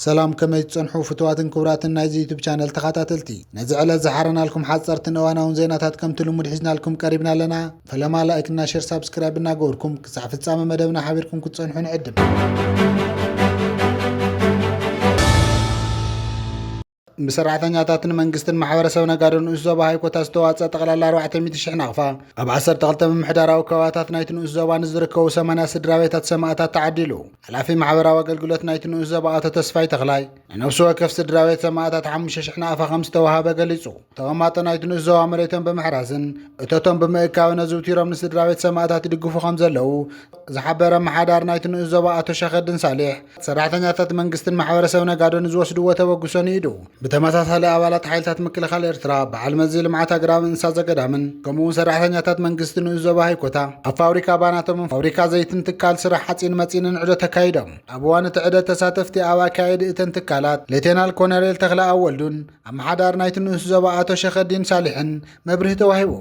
ሰላም ከመይ ትጸንሑ ፍትዋትን ክቡራትን ናይዚ ዩቱብ ቻነል ተኸታተልቲ ነዚ ዕለት ዝሓረናልኩም ሓፀርትን እዋናውን ዜናታት ከምቲ ልሙድ ሒዝናልኩም ቀሪብና ኣለና ፈለማ ላይክ እና ሸር ሳብስክራይብ እናገበርኩም ክሳዕ ፍጻመ መደብና ሓቢርኩም ክትጸንሑ ንዕድም ብሰራሕተኛታትን መንግስትን ማሕበረሰብ ነጋዶ ንኡስ ዞባ ሃይኮታ ዝተዋፅአ ጠቕላላ 400 ሽሕ ናቕፋ ኣብ 12 ምምሕዳራዊ ከባቢታት ናይቲ ንኡስ ዞባ ንዝርከቡ 80 ስድራ ቤታት ሰማእታት ተዓዲሉ። ሓላፊ ማሕበራዊ ኣገልግሎት ናይቲ ንኡስ ዞባ ኣቶ ተስፋይ ተኽላይ ንነብሲ ወከፍ ስድራ ቤት ሰማእታት ሓሙሽተ ሽሕ ናቕፋ ከም ዝተወሃበ ገሊፁ። ተቐማጦ ናይቲ ንኡስ ዞባ መሬቶም ብምሕራስን እቶቶም ብምእካብን ኣዝውቲሮም ንስድራቤት ሰማእታት ይድግፉ ከም ዘለዉ ዝሓበረ ኣመሓዳሪ ናይቲ ንኡስ ዞባ ኣቶ ሸኸድን ሳሌሕ ሰራሕተኛታት መንግስትን ማሕበረሰብ ነጋዶ ንዝወስድዎ ተበግሶ ንኢዱ ብተመሳሳሊ ኣባላት ሓይልታት ምክልኻል ኤርትራ በዓል መዚ ልምዓት ኣግራብን እንስሳ ዘገዳምን ከምኡውን ሰራሕተኛታት መንግስቲ ንኡስ ዞባ ሃይኮታ ኣብ ፋብሪካ ባናቶምን ፋብሪካ ዘይትን ትካል ስራሕ ሓፂን መፂንን ዕዶ ተካይዶም ኣብ እዋን እቲ ዕደ ተሳተፍቲ ኣብ ኣካየዲ እተን ትካላት ሌቴናል ኮነሬል ተክለ ኣወልዱን ኣመሓዳሪ ናይቲ ንኡስ ዞባ ኣቶ ሸኸዲን ሳልሕን መብርሂ ተዋሂቡ።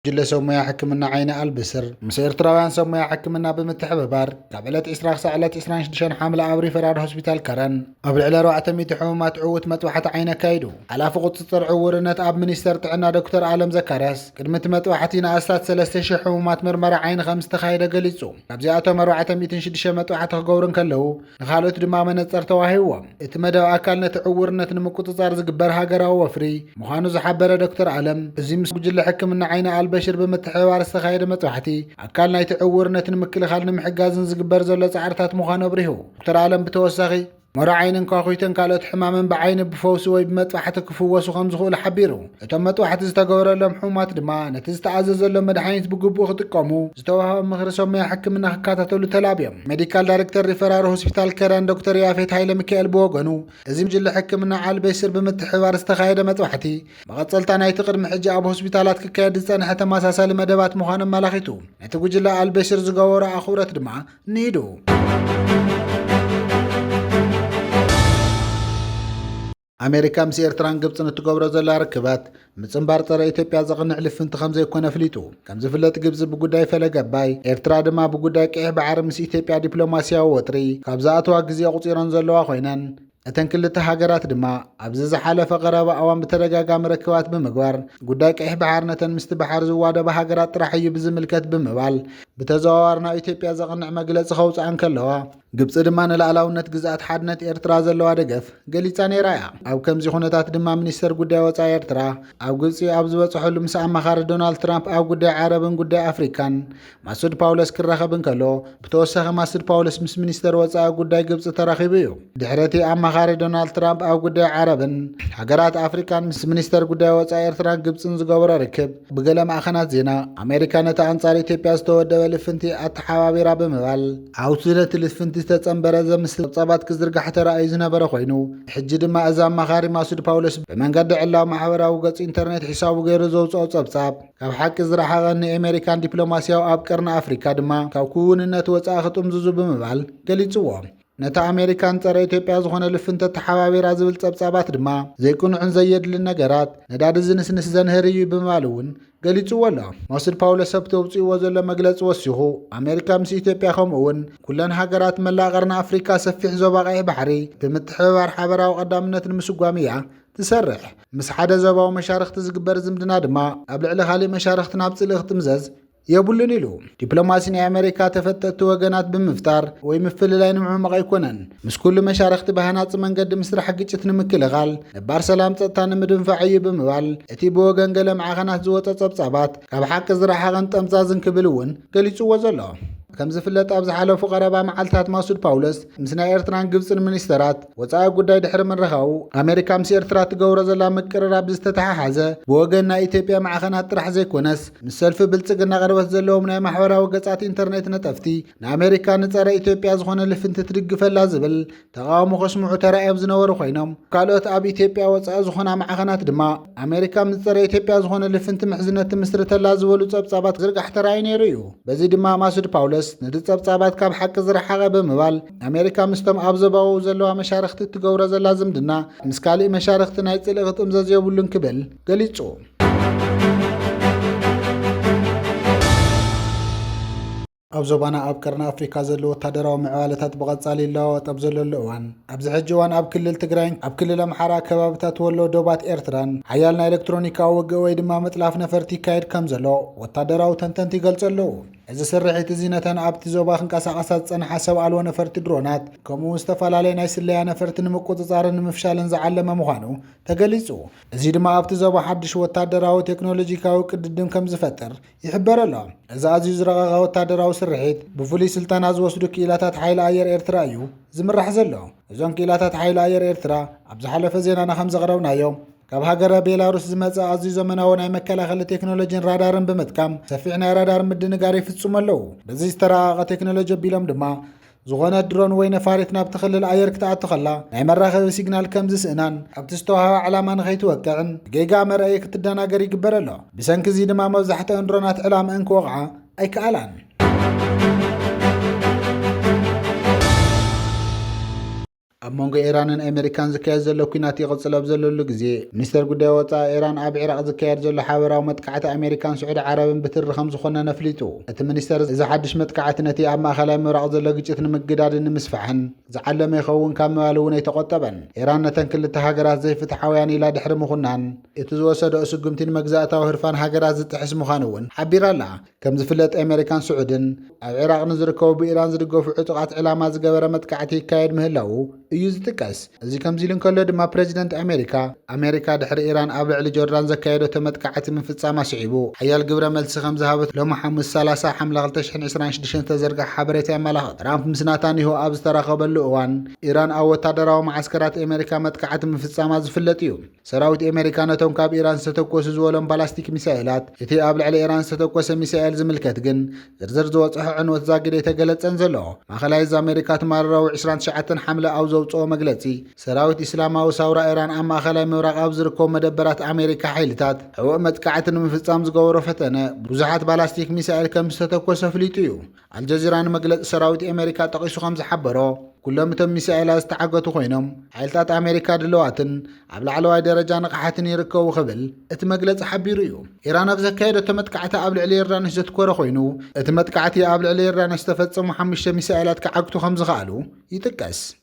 ጉጅለ ሰብ ሞያ ሕክምና ዓይኒ ኣልብስር ምስ ኤርትራውያን ሰብ ሞያ ሕክምና ብምትሕብባር ካብ ዕለት 20 ክሳዕ ዕለት 26 ሓምለ ኣብ ሪፈራል ሆስፒታል ከረን ኣብ ልዕሊ 400 ሕሙማት ዕውት መጥባሕቲ ዓይኒ ኣካይዱ ሓላፊ ቁፅፅር ዕውርነት ኣብ ሚኒስተር ጥዕና ዶክተር ኣለም ዘካርያስ ቅድሚ እቲ መጥባሕቲ ንኣስታት 3000 ሕሙማት ምርመራ ዓይኒ ከም ዝተኻየደ ገሊጹ ካብዚኣቶም ኣርባዕተ ሚእትን ሽዱሽተ መጥባሕቲ ክገብሩ እንከለዉ ንካልኦት ድማ መነፀር ተዋሂዎም እቲ መደብ ኣካል ነቲ ዕውርነት ንምቁፅፃር ዝግበር ሃገራዊ ወፍሪ ምዃኑ ዝሓበረ ዶክተር ኣለም እዚ ምስ ጉጅለ ሕክምና ዓይኒ ኣልበሽር ብምትሕብባር ዝተኻየደ መጥባሕቲ ኣካል ናይቲ ዕውርነት ንምክልኻል ንምሕጋዝን ዝግበር ዘሎ ፃዕርታት ምዃኑ ኣብሪሁ ዶክተር ኣለም ብተወሳኺ ሞራ ዓይንን ኳዅይትን ካልኦት ሕማምን ብዓይኒ ብፈውሲ ወይ ብመጥባሕቲ ክፍወሱ ከም ዝኽእሉ ሓቢሩ። እቶም መጥባሕቲ ዝተገበረሎም ሕሙማት ድማ ነቲ ዝተኣዘዘሎም መድሓኒት ብግቡእ ክጥቀሙ፣ ዝተዋህቦም ምኽሪ ሰብ ሞያ ሕክምና ክከታተሉ ተላብዮም። ሜዲካል ዳይሬክተር ሪፈራር ሆስፒታል ከረን ዶክተር ያፌት ሃይለሚካኤል ብወገኑ፣ እዚ ጉጅለ ሕክምና ዓል-ቤስር ብምትሕብባር ዝተኻየደ መጥባሕቲ፣ መቐጸልታ ናይቲ ቅድሚ ሕጂ ኣብ ሆስፒታላት ክካየድ ዝጸንሐ ተመሳሳሊ መደባት ምዃኑ ኣመላኺቱ። ነቲ ጉጅለ ኣል-ቤስር ዝገበሮ ኣኽብሮት ድማ፣ ንሂዱ። ኣሜሪካ ምስ ኤርትራን ግብፅን እትገብሮ ዘላ ርክባት ምፅምባር ፀረ ኢትዮጵያ ዘቕንዕ ልፍንቲ ከም ዘይኮነ ኣፍሊጡ ከም ዝፍለጥ ግብፂ ብጉዳይ ፈለገ ኣባይ ኤርትራ ድማ ብጉዳይ ቅዒሕ ባዕሪ ምስ ኢትዮጵያ ዲፕሎማስያዊ ወጥሪ ካብ ዝኣተዋ ግዜ ኣቑፂረን ዘለዋ ኮይነን እተን ክልተ ሃገራት ድማ ኣብዚ ዝሓለፈ ቀረባ እዋን ብተደጋጋሚ ርክባት ብምግባር ጉዳይ ቀይሕ ባሕር ነተን ምስቲ ባሕር ዝዋደባ ሃገራት ጥራሕ እዩ ብዝምልከት ብምባል ብተዘዋዋሪ ናብ ኢትዮጵያ ዘቕንዕ መግለፂ ከውፅኣ እንከለዋ ግብፂ ድማ ንላዕላውነት ግዝኣት ሓድነት ኤርትራ ዘለዋ ደገፍ ገሊጻ ነይራ እያ ኣብ ከምዚ ኩነታት ድማ ሚኒስተር ጉዳይ ወፃኢ ኤርትራ ኣብ ግብፂ ኣብ ዝበፅሐሉ ምስ ኣማኻሪ ዶናልድ ትራምፕ ኣብ ጉዳይ ዓረብን ጉዳይ ኣፍሪካን ማሱድ ፓውለስ ክራኸብ እንከሎ ብተወሳኺ ማሱድ ፓውለስ ምስ ሚኒስተር ወፃኢ ጉዳይ ግብፂ ተራኺቡ እዩ ድሕሪ እቲ ኣማኻሪ ዶናልድ ትራምፕ ኣብ ጉዳይ ዓረብን ሃገራት ኣፍሪካን ምስ ሚኒስተር ጉዳይ ወፃኢ ኤርትራን ግብፅን ዝገበሮ ርክብ ብገለ ማእኸናት ዜና ኣሜሪካ ነቲ ኣንጻር ኢትዮጵያ ዝተወደበ ልፍንቲ ኣተሓባቢራ ብምባል ኣብቲ ነቲ ልፍንቲ ዝተጸንበረ ዘምስል ጸብጻባት ክዝርጋሕ ተራእዩ ዝነበረ ኮይኑ ሕጂ ድማ እዚ ኣማኻሪ ማሱድ ፓውሎስ ብመንገዲ ዕላዊ ማሕበራዊ ገጽ ኢንተርኔት ሒሳቡ ገይሩ ዘውፅኦ ጸብጻብ ካብ ሓቂ ዝረሓቐ ንኤሜሪካን ዲፕሎማስያዊ ኣብ ቀርኒ ኣፍሪካ ድማ ካብ ክውንነት ወፃኢ ክጥምዝዙ ብምባል ገሊፅዎ። ነታ ኣሜሪካን ጸረ ኢትዮጵያ ዝኾነ ልፍንተ ተሓባቢራ ዝብል ጸብጻባት ድማ ዘይቅኑዕን ዘየድልን ነገራት ነዳዲ ዝንስንስ ዘንህር እዩ ብምባል እውን ገሊጽዎ ኣሎ ሞስድ ፓውሎ ሰብቲ ኣውፅእዎ ዘሎ መግለፂ ወሲኹ ኣሜሪካ ምስ ኢትዮጵያ ከምኡ እውን ኩለን ሃገራት መላእ ቀርኒ ኣፍሪካ ሰፊሕ ዞባ ቀይሕ ባሕሪ ብምትሕብባር ሓበራዊ ቀዳምነት ንምስጓም እያ ትሰርሕ። ምስ ሓደ ዘባዊ መሻርኽቲ ዝግበር ዝምድና ድማ ኣብ ልዕሊ ካሊእ መሻርኽቲ ናብ ጽልኢ ክትምዘዝ የብሉን ኢሉ። ዲፕሎማሲ ናይ ኣመሪካ ተፈተጥቲ ወገናት ብምፍጣር ወይ ምፍልላይ ንምዕማቕ ኣይኮነን። ምስ ኩሉ መሻርኽቲ ብሃናጺ መንገዲ ምስራሕ ግጭት ንምክልኻል፣ ነባር ሰላም ጸጥታ ንምድንፋዕ እዩ ብምባል እቲ ብወገን ገለ ማዕኸናት ዝወጸ ጸብጻባት ካብ ሓቂ ዝረሓቐን ጠምዛዝን ክብል እውን ገሊጽዎ ዘሎ። ከም ዝፍለጥ ኣብ ዝሓለፉ ቀረባ መዓልትታት ማሱድ ፓውለስ ምስ ናይ ኤርትራን ግብፅን ሚኒስተራት ወፃኢ ጉዳይ ድሕሪ ምርኻቡ ኣሜሪካ ምስ ኤርትራ ትገብሮ ዘላ ምቅርራብ ዝተተሓሓዘ ብወገን ናይ ኢትዮጵያ ማዕኸናት ጥራሕ ዘይኮነስ ምስ ሰልፊ ብልፅግና ቅርበት ዘለዎም ናይ ማሕበራዊ ገፃት ኢንተርኔት ነጠፍቲ ንኣሜሪካ ንፀረ ኢትዮጵያ ዝኾነ ልፍንቲ ትድግፈላ ዝብል ተቓውሞ ከስምዑ ተራእዮም ዝነበሩ ኮይኖም ካልኦት ኣብ ኢትዮጵያ ወፃኢ ዝኾና ማዕኸናት ድማ ኣሜሪካ ምስ ፀረ ኢትዮጵያ ዝኾነ ልፍንቲ ምሕዝነት ትምስርተላ ዝበሉ ጸብጻባት ዝርጋሕ ተራእዩ ነይሩ እዩ። በዚ ድማ ማሱድ ፓውለስ ነቲ ጸብጻባት ካብ ሓቂ ዝረሓቐ ብምባል ኣሜሪካ ምስቶም ኣብ ዘባዊ ዘለዋ መሻርኽቲ እትገብሮ ዘላ ዝምድና ምስ ካልእ መሻርኽቲ ናይ ጽልኢ ክጥምዘዝ የብሉን ክብል ገሊጹ። ኣብ ዞባና ኣብ ቀርኒ ኣፍሪካ ዘሎ ወታደራዊ ምዕባለታት ብቐጻሊ ይለዋወጥ ኣብ ዘለሉ እዋን ኣብዚ ሕጂ እዋን ኣብ ክልል ትግራይን ኣብ ክልል ኣምሓራ ከባብታት ወሎ ዶባት ኤርትራን ሓያል ናይ ኤሌክትሮኒካዊ ውግእ ወይ ድማ ምጥላፍ ነፈርቲ ይካየድ ከም ዘሎ ወታደራዊ ተንተንቲ ይገልጹ ኣለዉ እዚ ስርሒት እዚ ነተን ኣብቲ ዞባ ክንቀሳቐሳ ዝጸንሓ ሰብ ኣልቦ ነፈርቲ ድሮናት ከምኡ እውን ዝተፈላለየ ናይ ስለያ ነፈርቲ ንምቁጽጻርን ንምፍሻልን ዝዓለመ ምዃኑ ተገሊጹ እዚ ድማ ኣብቲ ዞባ ሓድሽ ወታደራዊ ቴክኖሎጂካዊ ቅድድም ከም ዝፈጥር ይሕበር ኣሎ። እዚ ኣዝዩ ዝረቐቐ ወታደራዊ ስርሒት ብፍሉይ ስልጠና ዝወስዱ ክኢላታት ሓይሊ ኣየር ኤርትራ እዩ ዝምራሕ ዘሎ። እዞም ክኢላታት ሓይሊ ኣየር ኤርትራ ኣብ ዝሓለፈ ዜናና ከም ዘቕረብናዮ ካብ ሃገረ ቤላሩስ ዝመፀ ኣዝዩ ዘመናዊ ናይ መከላኸሊ ቴክኖሎጂን ራዳርን ብምጥቃም ሰፊሕ ናይ ራዳር ምድንጋር ይፍፅሙ ኣለዉ። በዚ ዝተራቐቐ ቴክኖሎጂ ኣቢሎም ድማ ዝኾነት ድሮን ወይ ነፋሪት ናብቲ ክልል ኣየር ክትኣቱ ከላ ናይ መራኸቢ ሲግናል ከም ዝስእናን ኣብቲ ዝተዋህባ ዕላማ ንኸይትወቅዕን ብጌጋ መርኣዪ ክትደናገር ይግበር ኣሎ። ብሰንኪ እዚ ድማ መብዛሕትአን ድሮናት ዕላምአን ክወቕዓ ኣይከኣላን። ኣብ መንጎ ኢራንን ኣሜሪካን ዝካየድ ዘሎ ኩናት ይቕጽል ኣብ ዘለሉ ግዜ ሚኒስተር ጉዳይ ወጻኢ ኢራን ኣብ ዒራቕ ዝካየድ ዘሎ ሓበራዊ መጥቃዕቲ ኣሜሪካን ስዑዲ ዓረብን ብትሪ ከም ዝኾነን ኣፍሊጡ። እቲ ሚኒስተር እዚ ሓድሽ መጥቃዕቲ ነቲ ኣብ ማእከላይ ምብራቕ ዘሎ ግጭት ንምግዳድን ንምስፋሕን ዝዓለመ ይኸውን ካብ ምባል እውን ኣይተቖጠበን። ኢራን ነተን ክልተ ሃገራት ዘይፍትሓውያን ኢላ ድሕሪ ምኹናን፣ እቲ ዝወሰደኦ ስጉምቲ ንመግዛእታዊ ህርፋን ሃገራት ዝጥሕስ ምዃኑ እውን ሓቢራ ኣላ። ከም ዝፍለጥ ኣሜሪካን ስዑድን ኣብ ዒራቕ ንዝርከቡ ብኢራን ዝድገፉ ዕጡቓት ዕላማ ዝገበረ መጥቃዕቲ ይካየድ ምህላዉ እዩ ዝጥቀስ። እዚ ከምዚ ኢሉ እንከሎ ድማ ፕረዚደንት ኣሜሪካ፣ ኣሜሪካ ድሕሪ ኢራን ኣብ ልዕሊ ጆርዳን ዘካየደቶ መጥቃዕቲ ምፍጻማ ስዒቡ ሓያል ግብረ መልሲ ከም ዝሃበት ሎሚ ሓሙስ ሰላሳ ሓምለ ክልተ ሽሕን ዕስራን ሽዱሽተን ዝተዘርግሐ ሓበሬታ የመላኽት። ትራምፕ ምስ ናታንያሁ ኣብ ዝተራኸበሉ እዋን፣ ኢራን ኣብ ወታደራዊ መዓስከራት ኣሜሪካ መጥቃዕቲ ምፍጻማ ዝፍለጥ እዩ። ሰራዊት ኤመሪካ ነቶም ካብ ኢራን ዝተተኮሱ ዝበሎም ባላስቲክ ሚሳኤላት እቲ ኣብ ልዕሊ ኢራን ዝተተኮሰ ሚሳኤል ዝምልከት ግን ዝርዝር ዝወጽሖ ዕንወት ዛጊድ ኣይተገለጸን ዘሎ። ማእኸላይ እዝ ኣመሪካ ትማሊ ረቡዕ ዕስራን ትሽዓተን ሓምለ ኣብ ዘውጽኦ መግለጺ ሰራዊት ኢስላማዊ ሳውራ ኢራን ኣብ ማእኸላይ ምብራቕ ኣብ ዝርከቡ መደበራት ኣመሪካ ሓይልታት ሕቡእ መጥቃዕቲ ንምፍጻም ዝገበሮ ፈተነ ብዙሓት ባላስቲክ ሚሳኤል ከምዝተተኮሰ ኣፍሊጡ እዩ። ኣልጀዚራ ንመግለጺ ሰራዊት ኣሜሪካ ጠቒሱ ከም ዝሓበሮ፣ ኩሎም እቶም ሚሳኤላት ዝተዓገቱ ኮይኖም፣ ሓይልታት ኣሜሪካ ድልዋትን ኣብ ላዕለዋይ ደረጃ ንቕሓትን ይርከቡ ክብል እቲ መግለጺ ሓቢሩ እዩ። ኢራን ኣብ ዘካየደቶ መጥቃዕቲ ኣብ ልዕሊ ዮርዳኖስ ዘትኮረ ኮይኑ፣ እቲ መጥቃዕቲ ኣብ ልዕሊ ዮርዳኖስ ዝተፈጸሙ ሓሙሽተ ሚሳኤላት ክዓግቱ ከም ዝኸኣሉ ይጥቀስ።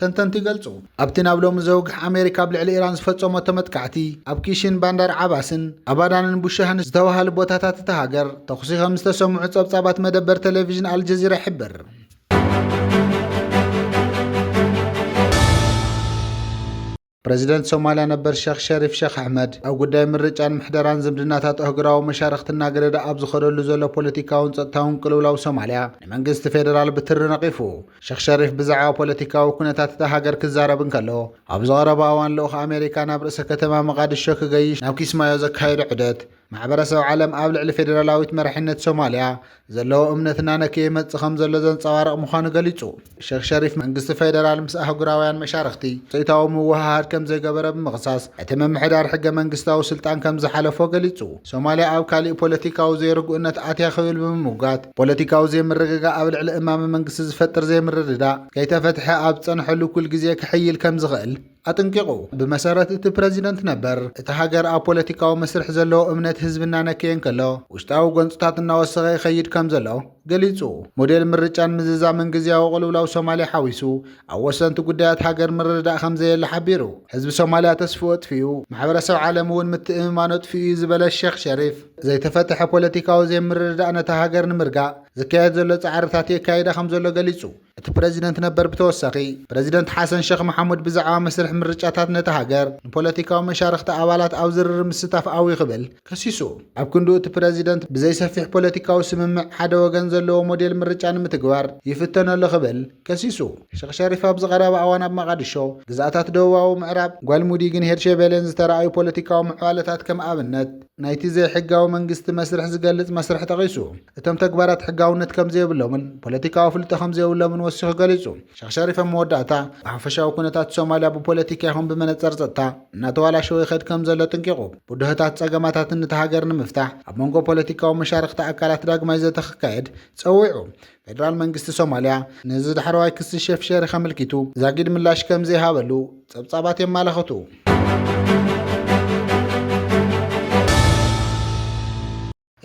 ተንተንቲ ይገልጹ። ኣብቲ ናብ ሎሚ ዘውግሕ ኣሜሪካ ኣብ ልዕሊ ኢራን ዝፈጸሞቶ መጥቃዕቲ፣ ኣብ ኪሽን፣ ባንዳር ዓባስን ኣባዳንን ቡሻህን ዝተባሃሉ ቦታታት እታ ሃገር ተኹሲ ከም ዝተሰምዑ ጸብጻባት መደበር ተለቪዥን ኣልጀዚራ ይሕብር። ፕረዚደንት ሶማልያ ነበር ሸኽ ሸሪፍ ሸኽ ኣሕመድ ኣብ ጉዳይ ምርጫን ምሕደራን ዝምድናታት ኣህጉራዊ መሻርኽቲ እናገደደ ኣብ ዝኸደሉ ዘሎ ፖለቲካውን ጸጥታውን ቅልውላው ሶማልያ ንመንግስቲ ፌደራል ብትሪ ነቒፉ። ሸኽ ሸሪፍ ብዛዕባ ፖለቲካዊ ኩነታት እታ ሃገር ክዛረብ እንከሎ ኣብዚ ቀረባ እዋን ልኡኽ ኣሜሪካ ናብ ርእሰ ከተማ መቓድሾ ክገይሽ ናብ ኪስማዮ ዘካየዶ ዑደት ማሕበረሰብ ዓለም ኣብ ልዕሊ ፌደራላዊት መራሒነት ሶማልያ ዘለዎ እምነት እናነከየ ይመጽእ ከም ዘሎ ዘንጸባርቕ ምዃኑ ገሊጹ። ሸኽ ሸሪፍ፣ መንግስቲ ፌደራል ምስ ኣህጉራውያን መሻርኽቲ ውጽኢታዊ ምውህሃድ ከም ዘይገበረ ብምኽሳስ፣ እቲ ምምሕዳር ሕገ መንግስታዊ ስልጣን ከም ዝሓለፎ ገሊጹ። ሶማልያ ኣብ ካልእ ፖለቲካዊ ዘይርጉእነት ኣትያ ክብል ብምምጓት፣ ፖለቲካዊ ዘይምርግጋእ ኣብ ልዕሊ እማመ መንግስቲ ዝፈጥር ዘይምርድዳእ ከይተፈትሐ ኣብ ዝጸንሐሉ እኩል ግዜ ክሕይል ከም ዝኽእል፣ ኣጥንቂቑ። ብመሰረት እቲ ፕረዚደንት ነበር፣ እታ ሃገር ኣብ ፖለቲካዊ መስርሕ ዘለዎ እምነት ህዝቢ እናነከየ እንከሎ፣ ውሽጣዊ ጎንጽታት እናወሰኸ ይኸይድ ከምዘሎ ገሊጹ። ሞዴል ምርጫን ምዝዛምን ግዝያዊ ቅልውላው ሶማልያ ሓዊሱ፣ ኣብ ወሰንቲ ጉዳያት ሃገር ምርድዳእ ከምዘየለ ሓቢሩ። ህዝቢ ሶማልያ ተስፍኡ ኣጥፊኡ፣ ማሕበረሰብ ዓለም'ውን ምትእምማኑ ኣጥፊኡ'ዩ ዝበለ ሸኽ ሸሪፍ፣ ዘይተፈትሐ ፖለቲካዊ ዘይምርድዳእ ነታ ሃገር ንምርጋእ ዝካየድ ዘሎ ጻዕርታት የካይዳ ከምዘሎ ገሊጹ። እቲ ፕረዚደንት ነበር ብተወሳኺ፣ ፕረዚደንት ሓሰን ሸኽ መሓሙድ ብዛዕባ መስርሕ ምርጫታት ነታ ሃገር ንፖለቲካዊ መሻርኽቲ ኣባላት ኣብ ዝርርብ ምስታፍ ኣውዩ ክብል ከሲሱ። ኣብ ክንድኡ እቲ ፕረዚደንት ብዘይሰፊሕ ፖለቲካዊ ስምምዕ ሓደ ወገን ዘለዎ ሞዴል ምርጫ ንምትግባር ይፍተን ኣሎ ክብል ከሲሱ። ሸኽ ሸሪፍ ኣብዚ ቀረባ እዋን ኣብ መቓድሾ፣ ግዝኣታት ደቡባዊ ምዕራብ፣ ጓልሙዲግን ሄርሸቤሌን ዝተራእዩ ፖለቲካዊ ምዕባለታት ከም ኣብነት ናይቲ ዘይሕጋዊ መንግስቲ መስርሕ ዝገልጽ መስርሕ ጠቒሱ። እቶም ተግባራት ሕጋውነት ከምዘይብሎምን ፖለቲካዊ ኣፍልጦ ከምዘይብሎምን ወሲኹ ገሊጹ። ሸኽ ሸሪፍ ኣብ መወዳእታ፣ ብሓፈሻዊ ኩነታት ሶማልያ ብፖለቲካ ይኹን ብመነጸር ጸጥታ እናተዋላሸወ ይኸድ ከምዘሎ ኣጥንቂቑ። ብድሆታት ጸገማታትን እታ ሃገር ንምፍታሕ ኣብ መንጎ ፖለቲካዊ መሻርኽቲ ኣካላት ዳግማይ ዘተ ክካየድ ጸዊዑ። ፌደራል መንግስቲ ሶማልያ ነዚ ዳሕረዋይ ክሲ ሼፍ ሸሪክ ኣመልኪቱ ዛጊድ ምላሽ ከምዘይሃበሉ ጸብጻባት የማላኽቱ።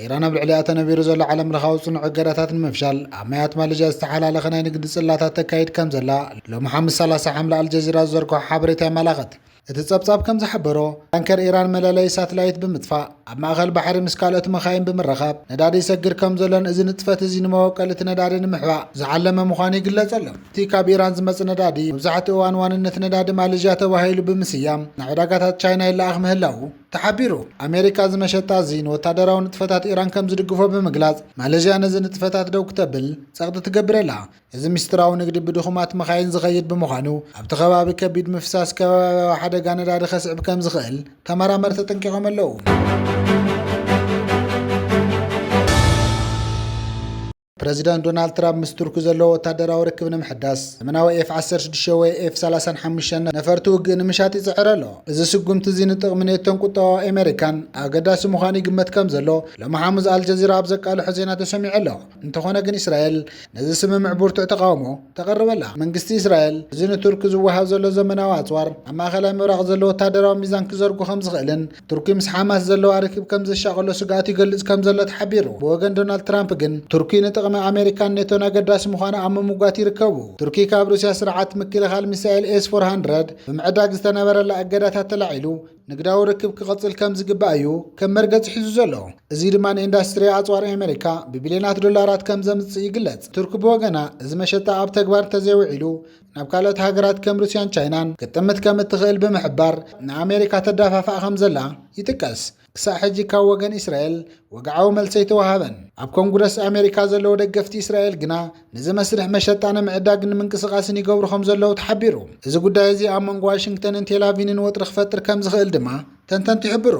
ኢራን ኣብ ልዕሊኣ ተነቢሩ ዘሎ ዓለምለኻዊ ጽኑዕ እገዳታት ንምፍሻል ኣብ ማያት ማሌዥያ ዝተሓላለኸ ናይ ንግዲ ጽላታት ተካይድ ከም ዘላ ሎሚ ሓሙስ 30 ሓምለ ኣልጀዚራ ዝዘርግሖ ሓበሬታ የመላኽት። እቲ ጸብጻብ ከም ዝሓበሮ፣ ታንከር ኢራን መለለዪ ሳትላይት ብምጥፋእ ኣብ ማእከል ባሕሪ ምስ ካልኦት መካይን ብምርኻብ ነዳዲ ይሰግር ከም ዘሎን እዚ ንጥፈት እዚ ንመወቀሊ እቲ ነዳዲ ንምሕባእ ዝዓለመ ምዃኑ ይግለጽ ኣሎ። እቲ ካብ ኢራን ዝመጽእ ነዳዲ መብዛሕትኡ እዋን ዋንነት ነዳዲ ማሌዥያ ተባሂሉ ብምስያም ናብ ዕዳጋታት ቻይና ይለኣኽ ምህላዉ፣ ተሓቢሩ። ኣሜሪካ እዚ መሸጣ እዚ ንወታደራዊ ንጥፈታት ኢራን ከም ዝድግፎ ብምግላጽ፣ ማለዥያ ነዚ ንጥፈታት ደው ክተብል ጸቕጢ ትገብር ኣላ። እዚ ምስጢራዊ ንግዲ ብድኹማት መካይን ዝኸይድ ብምዃኑ፣ ኣብቲ ከባቢ ከቢድ ምፍሳስ ከባብያዊ ሓደጋ ነዳዲ ከስዕብ ከም ዝኽእል ተመራመርቲ ኣጠንቂቖም ኣለዉ። ፕረዚደንት ዶናልድ ትራምፕ ምስ ቱርኪ ዘለዎ ወታደራዊ ርክብ ንምሕዳስ ዘመናዊ ኤፍ 16 ወይ ኤፍ 35 ነፈርቲ ውግእ ንምሻጥ ይጽዕር ኣሎ። እዚ ስጉምቲ እዚ ንጥቕሚ ኔቶን ቁጠባ ኣሜሪካን ኣገዳሲ ምዃኑ ይግመት ከም ዘሎ ሎሚ ሓሙስ ኣልጀዚራ ኣብ ዘቃልሖ ዜና ተሰሚዑ ኣሎ። እንተኾነ ግን እስራኤል ነዚ ስምምዕ ብርቱዕ ተቓውሞ ተቐርበላ። መንግስቲ እስራኤል እዚ ንቱርኪ ዝወሃብ ዘሎ ዘመናዊ ኣጽዋር ኣብ ማእከላይ ምብራቕ ዘሎ ወታደራዊ ሚዛን ክዘርጉ ከም ዝኽእልን ቱርኪ ምስ ሓማስ ዘለዋ ርክብ ከም ዘሻቐሎ ስግኣት ይገልጽ ከም ዘሎ ተሓቢሩ። ብወገን ዶናልድ ትራምፕ ግን ቱርኪ ንጥቕሚ ኣሜሪካን ኔቶን ኣገዳሲ ምዃና ኣብ ምምጓት ይርከቡ። ቱርኪ ካብ ሩስያ ስርዓት ምክልኻል ሚሳኤል ኤስ ፎር ሃንድረድ ብምዕዳግ ዝተነበረላ እገዳታት ተላዒሉ ንግዳዊ ርክብ ክቕጽል ከም ዝግባእ እዩ ከም መርገጺ ሒዙ ዘሎ። እዚ ድማ ንኢንዳስትሪ ኣጽዋር ኣሜሪካ ብቢልዮናት ዶላራት ከም ዘምጽእ ይግለጽ። ቱርኪ ብወገና እዚ መሸጣ ኣብ ተግባር እንተዘይውዒሉ ናብ ካልኦት ሃገራት ከም ሩስያን ቻይናን ክትጥምት ከም እትኽእል ብምሕባር ንኣሜሪካ ተዳፋፋእ ከም ዘላ ይጥቀስ። ክሳዕ ሕጂ ካብ ወገን እስራኤል ወግዓዊ መልሲ ኣይተወሃበን። ኣብ ኮንግረስ ኣሜሪካ ዘለዉ ደገፍቲ እስራኤል ግና ነዚ መስርሕ መሸጣ ንምዕዳግን ምንቅስቓስን ይገብሩ ከም ዘለዉ ተሓቢሩ። እዚ ጉዳይ እዚ ኣብ መንጎ ዋሽንግተንን ቴላቪንን ወጥሪ ክፈጥር ከም ዝኽእል ድማ ተንተንቲ ይሕብሩ።